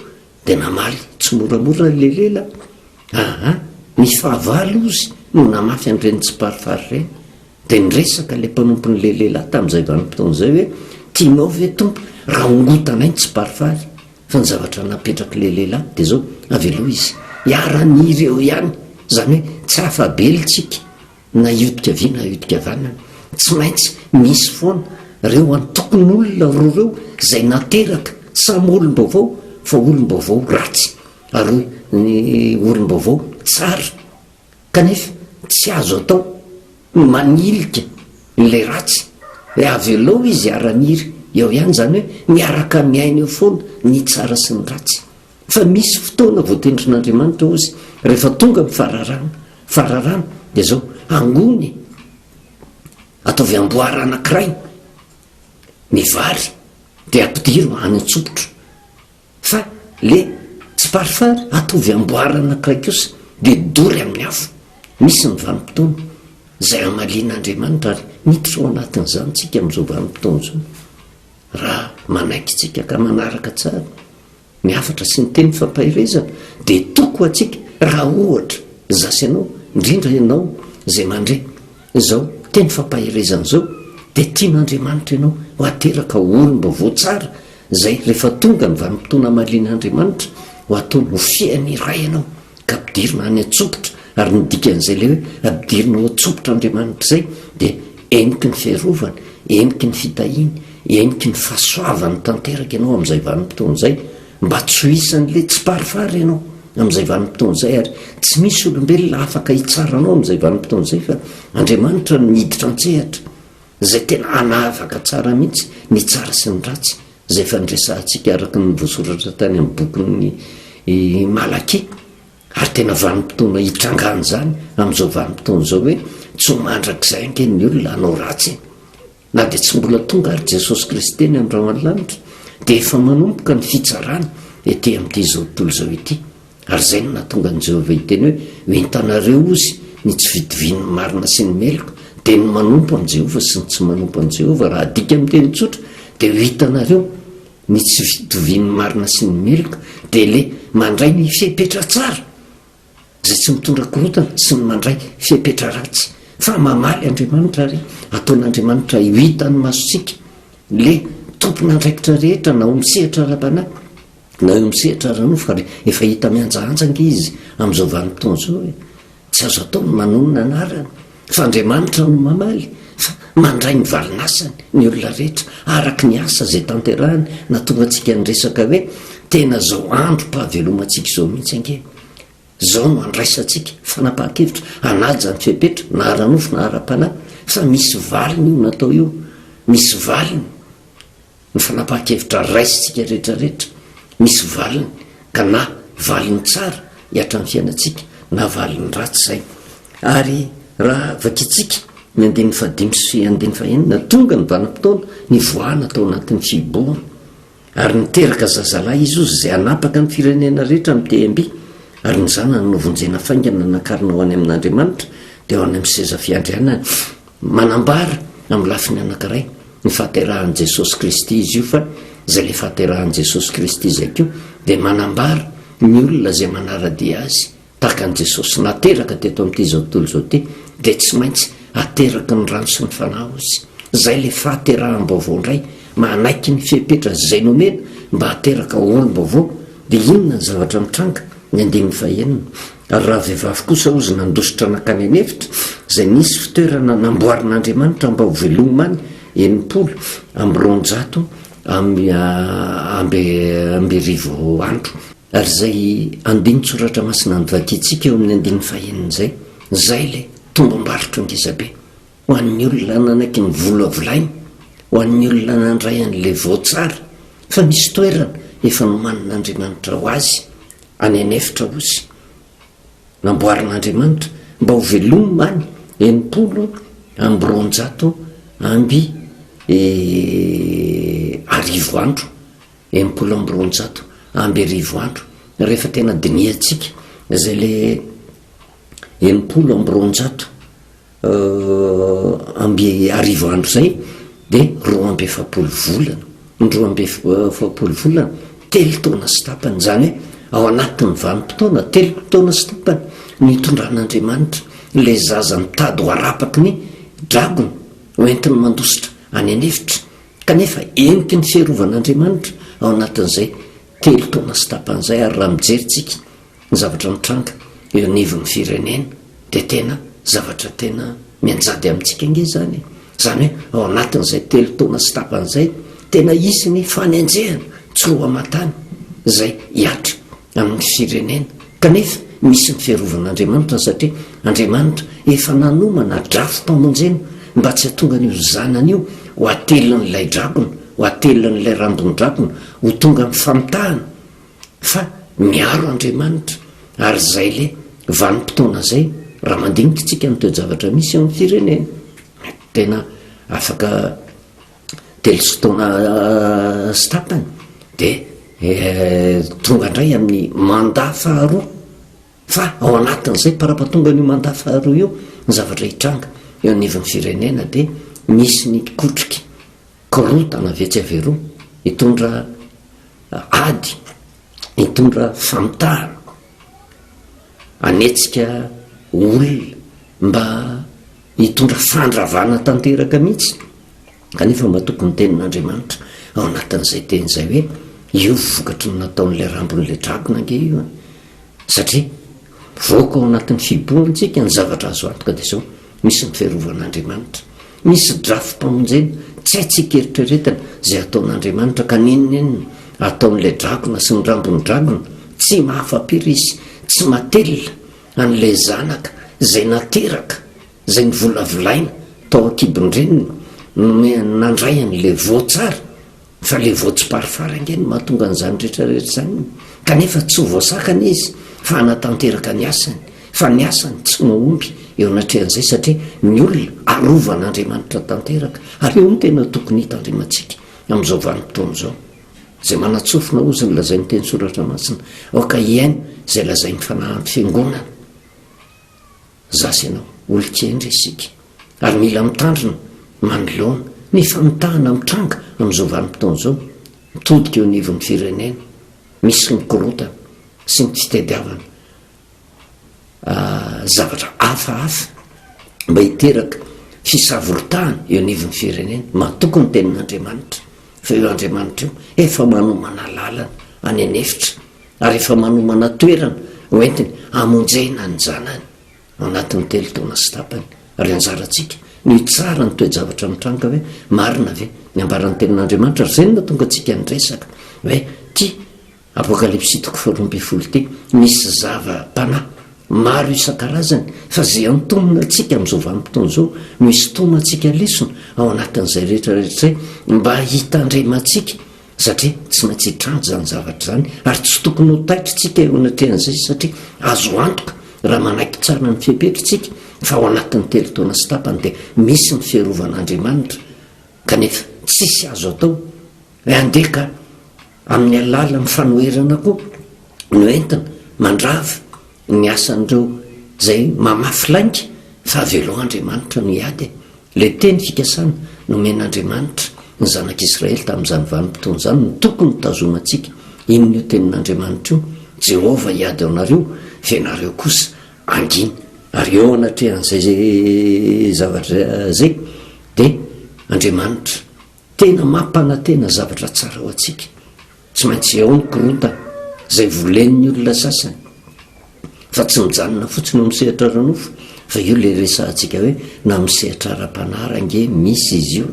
dia namaly tsy moramora n'la lela aa ny fahavalo ozy no namafy an'ireny tsy parifary ireny Dia niresaka ilay mpanompon'ilay lehilahy tamin'izay vanim-potoana izay hoe, Tianao ve, Tompo, raha hongotanay ny tsiparifary? Fa ny zavatra napetrak'ilay lehilahy dia izao, Avy aloha izy hiara-an'ireo ihany, izany hoe tsy afa-be iltsika na hiodika havia na hiodika havanana. Tsy maintsy misy foana ireo antokon'olona roa ireo izay nateraka, samy olom-baovao fa olom-baovao ratsy ary ny olom-baovao tsara. kanefa tsy azo atao ny manilika ilay ratsy hoe avelao izy hiara-niry eo ihany, izany hoe miaraka miaina eo foana ny tsara sy ny ratsy. Fa misy fotoana voatendrin'Andriamanitra ho izy rehefa tonga ny fararano, fararano dia izao, angony e! ataovy amboara anankiray ny vary dia ampidiro any an-tsopitra. Fa le tsy parfum atovy amboara anakiray kosa de dory amin'ny afo. Misy ny vanim-potoana zay hamalian'Andriamanitra ary miditra ao anatin'izany tsika amin'izao vanim-potoana izao raha manaiky antsika ka manaraka tsara ny hafatra sy ny teny fampaherezana de toko ho antsika raha ohatra zasy anao indrindra ianao zay mandre izao teny fampaherezana izao de tian'Andriamanitra ianao ho ateraka olom-baovao tsara Izay rehefa tonga ny vanim-potoana hamalian'Andriamanitra ho atao ho fiain'ny iray ianao ka ampidirina any an-tsompitra, ary ny dikan'izay ilay hoe ampidirina ao an-tsompitr'Andriamanitra izay dia heniky ny fiarovany, heniky ny fitahiany, heniky ny fahasoavany tanteraka ianao amin'izay vanim-potoana izay, mba tsy ho isan'ilay tsiparifary ianao amin'izay vanim-potoana izay ary tsy misy olombelona afaka hitsara anao amin'izay vanim-potoana izay fa Andriamanitra no miditra an-tsehatra. izay tena hanavaka tsara mihitsy ny tsara sy ny ratsy, izay efa niresahantsika araka ny voasoratra tany amin'ny bokin'ny Malakia, ary tena vanim-potoana hitrangan'izany amin'izao vanim-potoana izao hoe tsy ho mandrakizay ange ny olona hanao ratsy e! Na dia tsy mbola tonga àry Jesosy Kristy eny amin'ny rahona lanitra, dia efa manomboka ny fitsarana ety amin'ity izao tontolo izao ity. Ary izay no nahatonga an'i Jehovah hiteny hoe, Ho entanareo, hozy, ny tsy fitovian'ny marina sy ny meloka, dia ny manompo an'i Jehovah sy ny tsy manompo an'i Jehovah. Raha adika amin'ny teny tsotra, dia ho hitanareo ny tsy fitovian'ny marina sy ny meloka, dia ilay mandray ny fepetra tsara, izay tsy mitondra korontana, sy ny mandray fepetra ratsy. Fa mamaly Andriamanitra ary ataon'Andriamanitra ho hitan'ny masontsika ilay tompon'andraikitra rehetra na ho misehatra ara-panahy. Naho eo amin'ny sehatra ara-nofo ary efa hita mihanjahanja ange izy amin'izao vanim-potoana izao hoe tsy azo atao ny manonona anarany fa Andriamanitra no mamaly fa mandray ny valin'asany ny olona rehetra araka ny asa izay tanterahiny na tonga antsika niresaka hoe tena izao androm-pahavelomantsika izao mihitsy ange izao no andraisantsika fanapahan-kevitra hanaja ny fepetra na ara-nofo na ara-panahy fa misy valiny io natao io misy valiny ny fanapahan-kevitra raisintsika rehetrarehetra misy valiny ka na valiny tsara hiatran'ny fiainantsika na valiny ratsy izay ary raha vakintsika ny andininy fahadimy sy andininy fahenina tonga ny vanimpotoana ny voahana tao anatin'ny fihibohana ary niteraka zazalahy izy ozy izay anapaka ny firenena rehetra amin'ny tehimby ary ny zanany novonjena faingana nakarina ho any amin'andriamanitra dia ho any amin'ny seza fiandrianany Manambara, amin'ny lafiny anankiray, ny fahaterahan'i Jesosy Kristy izy io, fa izay ilay fahaterahan'i Jesosy Kristy izay koa dia manambara ny olona izay manara-dia Azy, tahaka an'i Jesosy nateraka teto amin'ity izao tontolo izao ity, dia tsy maintsy ateraky ny rano sy ny Fanahy ozy. Izay ilay fahateraham-baovao indray, manaiky ny fepetra izay nomena mba hateraka olom-baovao. Dia inona ny zavatra mitranga? Ny andininy fahenina. Ary raha vehivavy kosa ozy nandositra nankany an'efitra, izay nisy fitoerana namboarin'Andriamanitra mba ho velomina any, enimpolo amby roanjato amby amby arivo andro. Ary izay andinin-tsoratra masina novakiantsika eo amin'ny andininy fahenina izay, izay ilay tombam-barotra ngezabe. Ho an'ny olona nanaky ny vola volainy, ho an'ny olona nandray an'ilay voatsara, fa misy toerana efa nomanin'Andriamanitra ho azy any an'efitra osy, namboarin'Andriamanitra mba ho velomina any enimpolo amby roanjato amby arivo andro, enimpolo amby roanjato amby arivo andro, rehefa tena dinihantsika izay ilay enimpolo amby roanjato. amby arivo andro izay dia roa amby efapolo volana, ny roa amby efapolo volana telo taona sy tapany, izany hoe ao anatin'ny vanim-potoana telo taona sy tapany no itondran'Andriamanitra ilay zaza mitady ho arapaky ny dragony ho entiny mandositra any an'efitra, kanefa entin'ny fiarovan'Andriamanitra ao anatin'izay telo taona sy tapany izay, ary raha mijery tsika Ny zavatra mitranga eo anivon'ny firenena dia tena zavatra tena mianjady amintsika ange izany e! Izany hoe ao anatin'izay telo taona sy tapany izay, tena hisy ny fanenjehana tsy roa aman-tany izay hihatra amin'ny firenena. Kanefa misy ny fiarovan'Andriamanitra satria Andriamanitra efa nanomana drafim-pamonjena mba tsy hatongan'io zanany io ho atelin'ilay drakona, ho atelin'ilay rambon-drakona ho tonga amin'ny famitahana. Fa miaro Andriamanitra ary izay le vanim-potoana zay raha mandinika tsika ny toe-javatra misy eo am firenena tena afaka telo sy taona sy tapany de tonga indray amin'ny manda faharoa fa ao anatin'izay parapatonga an'io manda faharoa io ny zavatra hitranga eo anivon'ny firenena de misy ny kotroky korotana vetsy averoa hitondra ady hitondra famitahana hanetsika olona mba hitondra fandravana tanteraka mihitsy kanefa mba toko ny tenin'andriamanitra ao anatin'izay teny izay hoe io vokatry ny nataon'ilay rambon'ilay dragona ange io satria voaka ao anatin'ny fibohantsika ny zavatra azo antoka dia zao Misy ny fiarovan'Andriamanitra. Misy drafi-pamonjena. Tsy haintsika eritreretana izay hataon'Andriamanitra ka n'inon'inona ataon'ilay drakona sy ny rambon'ny drakona, tsy mahafa-pery izy, tsy matelina, an'ilay zanaka izay nateraka, izay novolavolaina tao an-kibon-dreniny, nomehany nandray an'ilay voa tsara. Fa le vao tsiparifary ange no mahatonga an'izany rehetra rehetra izany, kanefa tsy ho voasakana izy fa hanatanteraka ny asany, fa ny asany tsy mahomby eo anatrehan'izay satria ny olona arovan'Andriamanitra tanteraka, ary io no tena tokony hitandremantsika amin'izao vanim-potoana izao. Izay manan-tsofina hozy ny lazain'ny teny soratra masina, aoka hihaino izay lazain'ny fanahan'ny fiangonana. Za sy ianao olon-kendry isika ary mila mitandrina, manoloana, ny famitahana mitranga amin'izao vanim-potoana izao mitodika eo anivon'ny firenena, misy ny korontana sy ny fitadiavana zavatra hafahafa mba hiteraka fisavorotahana eo anivon'ny firenena. Matoky ny tenin'Andriamanitra fa io Andriamanitra io efa manomana lalana any an'efitra ary efa manomana toerana hoentiny hamonjena ny zanany ao anatin'ny telo taona sy tapany, ary anjarantsika ny hitsara ny toe-javatra mitranga hoe marina ve ny ambaran'ny tenin'Andriamanitra, ary izay no nahatonga antsika niresaka hoe ity Apokalypsy toko faharoa ambin'ny folo ity misy zava-panahy maro isan-karazany fa izay antonona antsika amin'izao vanim-potoana izao no hisintomantsika lesona ao anatin'izay rehetrarehetra izay mba hitandremantsika satria tsy maintsy hitranga izany zavatra izany ary tsy tokony ho taitritsika eo anatrehan'izay satria azo antoka raha manaiky tsara ny fepetra tsika fa ao anatin'ny telo taona sy tapany dia misy ny fiarovan'andriamanitra kanefa tsisy azo atao e andeha ka amin'ny alalan'ny fanoherana koa no entina mandrava ny asan'ireo izay mamafy lainga fa avelao Andriamanitra no hiady e! ilay teny fikasana nomen'Andriamanitra ny zanak'Israely tamin'izany vanim-potoana izany no tokony hitazomantsika, inona io tenin'Andriamanitra io? Jehovah hiady aminareo fa ianareo kosa hangina. Ary eo anatrehan'izay zavatra izay dia Andriamanitra Tena mampanantena zavatra tsara ho antsika. Tsy maintsy eo ny korontana, izay volen'ny olona sasany. Fa tsy mijanona fotsiny eo amin'ny sehatra ara-nofo, fa io ilay resahantsika hoe na amin'ny sehatra ara-panahy ary ange misy izy io.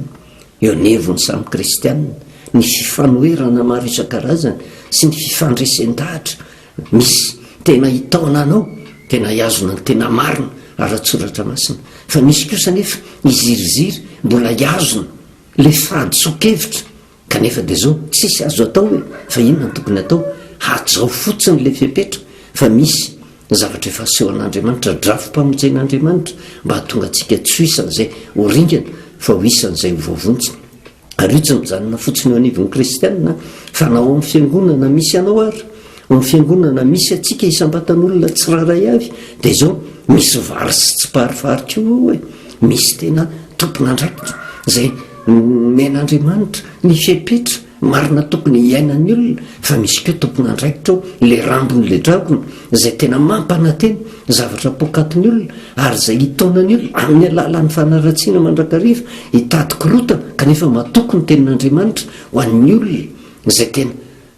Eo anivon'ny samy kristiana, ny fifanoherana maro isan-karazany sy ny fifandresen-dahatra Misy tena hitaona anao, tena hihazona ny tena marina ara-tsoratra masina, fa misy kosa anefa hiziriziry mbola hihazona ilay fahadisoan-kevitra, kanefa dia izao, tsisy azo atao e! fa inona no tokony atao? hajao fotsiny ilay fepetra fa misy zavatra efa asehon'Andriamanitra, drafi-pamonjen'Andriamanitra mba hahatonga antsika tsy ho isan'izay ho ringana fa ho isan'izay ho voavonjy. Ary io tsy mijanona fotsiny eo anivon'ny kristiana fa na ao amin'ny fiangonana misy anao ary ao amin'ny fiangonana misy antsika isam-batan'olona tsirairay avy dia izao misy vary sy tsiparifary koa eo e misy tena tompon'andraikitra izay men'andriamanitra ny fepetra marina tokony hiainan'ny olona fa misy koa tompon'andraikitra ao le rambony le dragona izay tena mampanantena ny zavatra poakatin'ny olona ary izay hitaonany olona amin'ny alalan'ny fanaratsiana mandrakariva hitady korotana kanefa matoky ny tenin'Andriamanitra ho an'ny olona izay tena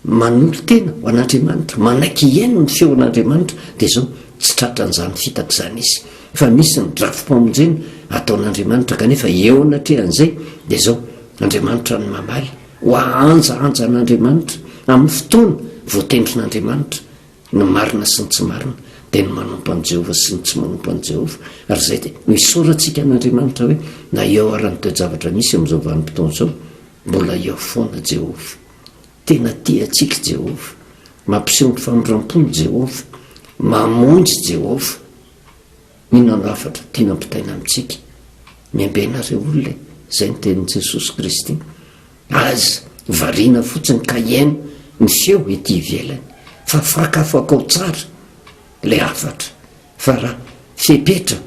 manolo-tena ho an'Andriamanitra manaiky hihaino ny feon'Andriamanitra dia izao tsy tratran'izany fitaka izany izy fa misy ny drafi-pamonjena ataon'Andriamanitra kanefa eo anatrehan'izay dia izao Andriamanitra ny mamaly ho ahanjahanjan'Andriamanitra amin'ny fotoana voatendrin'Andriamanitra Ny marina sy ny tsy marina dia ny manompo an'i Jehovah sy ny tsy manompo an'i Jehovah, ary izay dia ho isaorantsika an'Andriamanitra hoe na eo ary ny toe-javatra misy amin'izao vanim-potoana izao, mbola eo foana Jehovah. Tena tia antsika i Jehovah. Mampiseho ny famindram-pony Jehovah. Mamonjy Jehovah. Inona no hafatra tiana ampitaina amintsika? Miambenareo olona e! Izay ny tenin'i Jesosy Kristy. Aza variana fotsiny ka hihaino ny feo ety ivelany, fa fakafakao tsara ilay hafatra, fa raha fepetra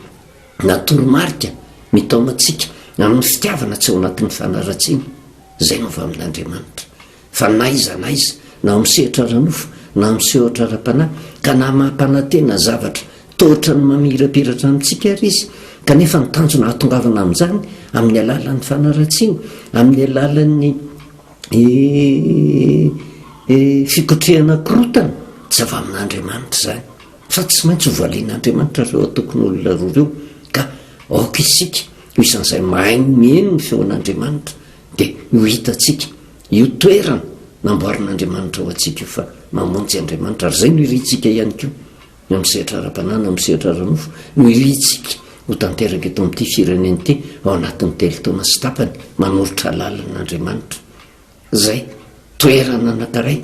na toromarika mitaona antsika amin'ny fitiavana tsy ao anatin'ny fanaratsiana, izay no avy amin'Andriamanitra. Fa na iza na iza, na ao amin'ny sehatra ara-nofo, na amin'ny sehatra ara-panahy, ka na mampanantena zavatra toa ohatran'ny mamirapiratra amintsika ary izy, kanefa ny tanjona hahatongavana amin'izany, amin'ny alalan'ny fanaratsiana, amin'ny alalan'ny fikotrehana korontana, tsy avy amin'Andriamanitra izany. Fa tsy maintsy ho valian'Andriamanitra ireo antokon'olona roa ireo, ka aoka isika ho isan'izay mahay mihaino ny feon'Andriamanitra, Dia ho hitantsika io toerana namboarin'Andriamanitra ho antsika io fa mamonjy Andriamanitra, ary izay no irintsika ihany koa amin'ny sehatra ara-panahy na amin'ny sehatra ara-nofo no irintsika ho tanteraka eto amin'ity firenena ity ao anatin'ny telo taona sy tapany manoritra lalana Andriamanitra izay toerana anankiray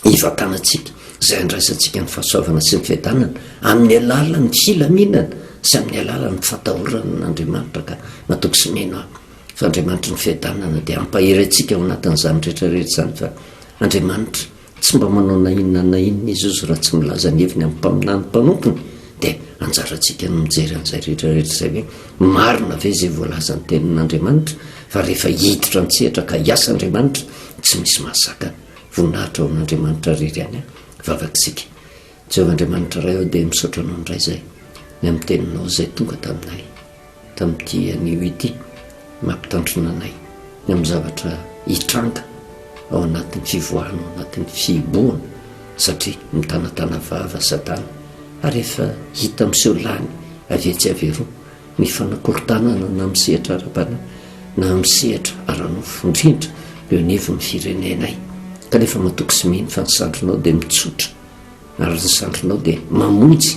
ivantanantsika izay andraisantsika ny fahasoavana sy ny fiadanana amin'ny alalan'ny filaminana sy amin'ny alalan'ny fatahorana an'Andriamanitra ka matoky sy mino aho fa Andriamanitry ny fiadanana dia hampahery antsika ao anatin'izany rehetrarehetra izany fa Andriamanitra tsy mba manao na inona na inona izy ozy raha tsy milaza ny heviny amin'ny mpaminany mpanompony dia anjarantsika ny mijery an'izay rehetrarehetra izay hoe marina ve izay voalazan'ny tenin'Andriamanitra fa rehefa hiditra an-tsehatra ka hiasa Andriamanitra tsy misy mahazakana Voninahitra ho an'Andriamanitra rery any a. Vavaka isika. Jehovah Andriamanitra Ray ô, dia misaotra Anao indray izay, ny amin'ny Teninao izay tonga taminay, tamin'ity anio ity, mampitandrina anay, ny amin'ny zavatra hitranga ao anatin'ny fivoahana, ao anatin'ny fihibohana, satria mitanatana vava Satana, ary efa hita miseho lany avy etsy avy eroa, ny fanakorontanana na amin'ny sehatra ara-panahy na amin'ny sehatra ara-nofo, indrindra eo anivon'ny firenenay. Kanefa matoky sy mino fa ny sandrinao dia mitsotra ary ny sandrinao dia mamonjy,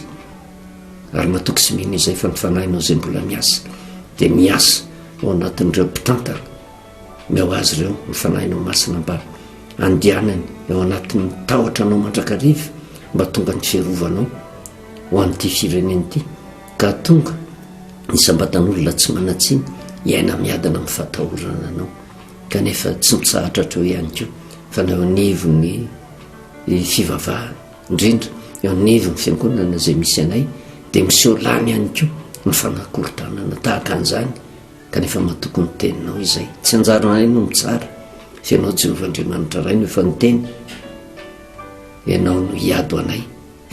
ary matoky sy mino izay fa ny fanahinao izay mbola miasa dia miasa ao anatin'ireo mpitantana, meo azy ireo ny fanahinao masina mba andianany eo anatin'ny tahotra anao mandrakariva mba tonga ny fiarovanao ho an'ity firenena ity. Ka tonga, isam-batan'olona tsy manan-tsiny hiaina miadana amin'ny fahatahorana anao, kanefa tsy mitsahatra hatreo ihany koa, fa na eo anivon'ny eh, fivavahana, indrindra eo anivon'ny fiangonana izay misy anay, dia miseho lany ihany koa ny fanakorontanana tahaka an'izany, kanefa matoky ny teninao izay. Tsy anjaranay no mitsara, fa ianao Jehovah Andriamanitra Ray no efa niteny, ianao no hiady ho anay.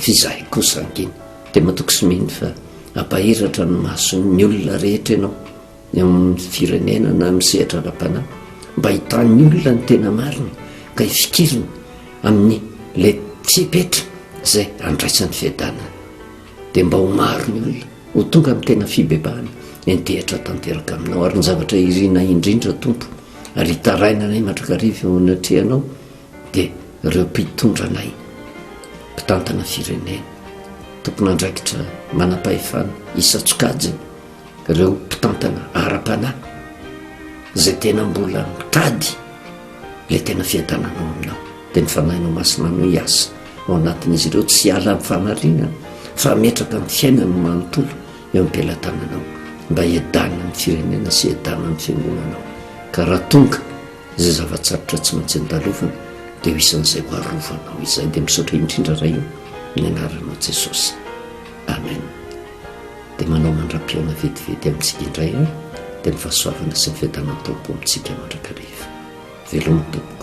F'izahay kosa ankiny dia matoky sy mino fa hampahiratra ny mason'ny olona rehetra ianao eo amin'ny firenena na amin'ny sehatra ara-panahy mba hitan'ny olona ny tena marina ka hifikiriny amin'ny le fepetra izay andraisan'ny fiadanana dia mba ho maro ny olona ho tonga amin'ny tena fibebahana entehitra tanteraka aminao ary ny zavatra irina indrindra tompo ary hitarainanay mandrakariva eo anatrehanao dia ireo mpitondra anay, mpitantana firenena, tompon'andraikitra manam-pahefana isan-tsokajiny, ireo mpitantana ara-panahy izay tena mbola mitady ilay tena fiadananao aminao, dia ny Fanahinao Masina no hiasa ao anatin'izy ireo, tsy hiala amin'ny fanarenana fa hametraka ny fiainany manontolo eo am-pelatananao mba hiadanan'ny firenena sy hiadanan'ny fiangonanao ka raha tonga Izay zava-tsarotra tsy maintsy andalovina dia ho isan'izay ho arovanao izay dia misaotra indrindra Ray o ny anaranao Jesosy Amen dia manao mandram-pihaona vetivety amintsika indray an dia ny fahasoavana sy ny fiadanan'ny Tompo amintsika mandrakariva veloma tompoko.